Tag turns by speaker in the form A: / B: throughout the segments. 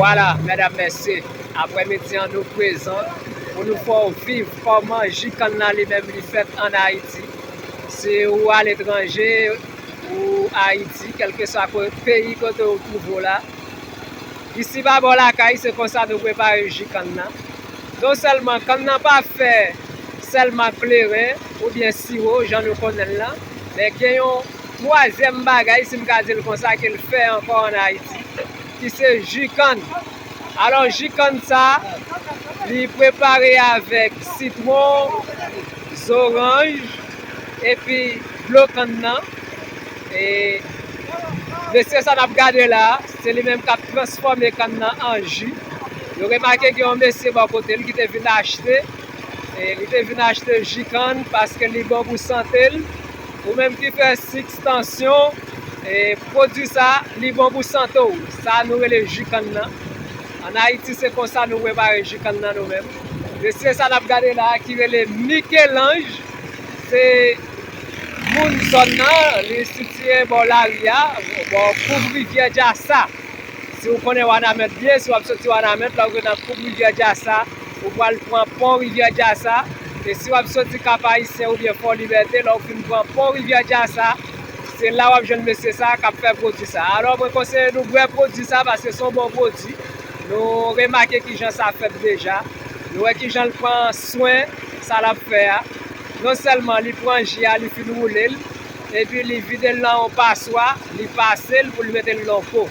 A: Vwala medam mesye apre midi an nou prezan pou nou fè w viv fè w manji kanna li menm li fèt an ayiti. Si ou aletranje ou Ayiti kelkeswa peyi kote ou twouve w la, isi pa bò lakay se konsa nou prepare ji kann nan. Non sèlman kann nan pa fè sèlman ak kleren oubyen siwo jan nou konnen l lan, men gen yon twazyèm bagay si m ka di l konsa ke l fè ankò an Ayiti ki se ji kann. Alò ji kann sa li prepare avèk sitwon, zoranj epi dlo kann nan. E mesye sa nap gade la, se li menm kap transfòme kann nan an ji. Nou remake gen yon mesye bò kote l ki te vin achte, e li te vin achte ji kann paske li bon pou sante l. Ou menm ki fè sik, tansyon. Pwodwi sa li bon pou sante w. Sa nou rele ji kann nan. An Ayiti se konsa nou prepare ji kann nan nou menm. Mesye sa nap gade la ki rele Michelange se moun zòn nan li sitiye bò lari a bò koub rivyè Jassa. Si w konnen Wanament byen si wap soti Wanament la ou rive nan koub rivyè Jassa ou pwal pran pon rivyè Jassa e si wap soti Kap Ayisyen oubyen Fò Libète la ou fin pran pon rivyè Jassa. Se la wap jwenn mesye sa kap fè pwodwi sa. Alò mwen konseye nou bwè pwodwi sa paske son bon pwodwi. Nou remake kijan sa fèt deja. Nou wè kijan l pran swen sa lap fè a. Non sèlman li pran ji a li fin woule l. Epi li vide l nan yon paswa, li pase l pou l mete l nan po.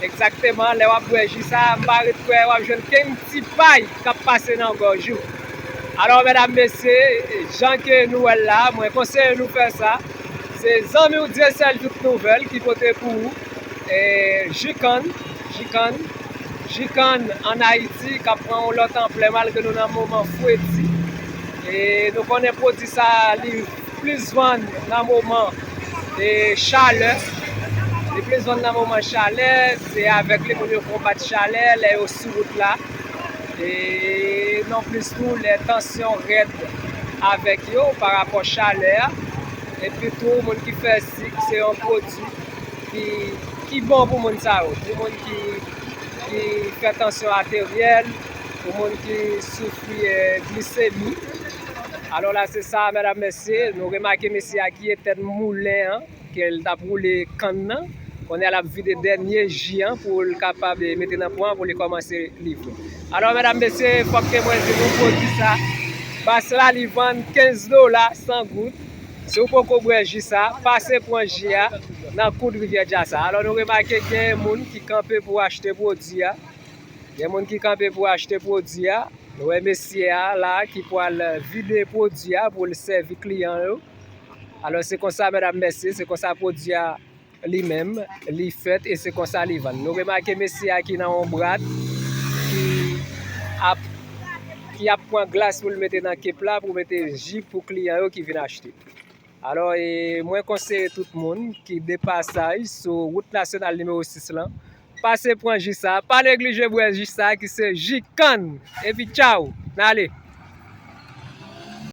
A: Egzakteman lè wap bwè ji sa m pa ret kwè wap jwenn kenn ti pay kap pase nan gòj ou. Alò medam mesye jan ke nou wè l la mwen konseye nou fè sa. Se zanmi w Dyesèl tout nouvèl ki pote pou ou ji kann, ji kann, ji kann an Ayiti k ap pran yon lòt anplè malgre nou nan moman fredi. E nou konnen pwodui sa li plis vann nan moman chalè. Li plis vann nan moman chalè, se avèk li moun yo konbat chalè lè yo sou wout la. e non plis tou lè tansyon rèd avèk yo pa rapò chalè a, epi tou moun ki fè sik se yon pwodui ki bon pou moun sa yo, pou moun ki fè tansyon ateryèl, pou moun ki soufri glisemi, alò la se sa mèdam mèsye nou remake mesye a ki etèn moulen an. Ke l tap roule kann nan. Kounye a lap vide dènye ji an pou l kapab mete nan pwan an pou li kòmanse livre. Alò medam mesye fòk ke mwen di nou pwodui sa Bass la li vann 15 dola 100 goud. Si w poko bwè ji sa, pase pran ji a nan koud rivyè Jazz a. Alò nou remake gen moun ki kanpe pou achte pwodui a. Gen moun ki kanpe pou achte pwodui a. Nou wè mesye a la ki pwal vide pwodui a pou l sèvi kliyan yo. Alò se konsa medam mesye, se konsa pwodui a li menm li fèt e se konsa li vann. Nou remake mesye a ki nan yon brad ki ap ki ap pran glas pou l mete nan kep la pou mete ji pou kliyan yo ki vin achte. Alò e mwen konseye tout moun ki de pasaj sou wout nasyonal nimewo 6 lan, pase pran ji sa, pa neglije bwè ji sa ki se ji kann. Epi tchaw! N ale!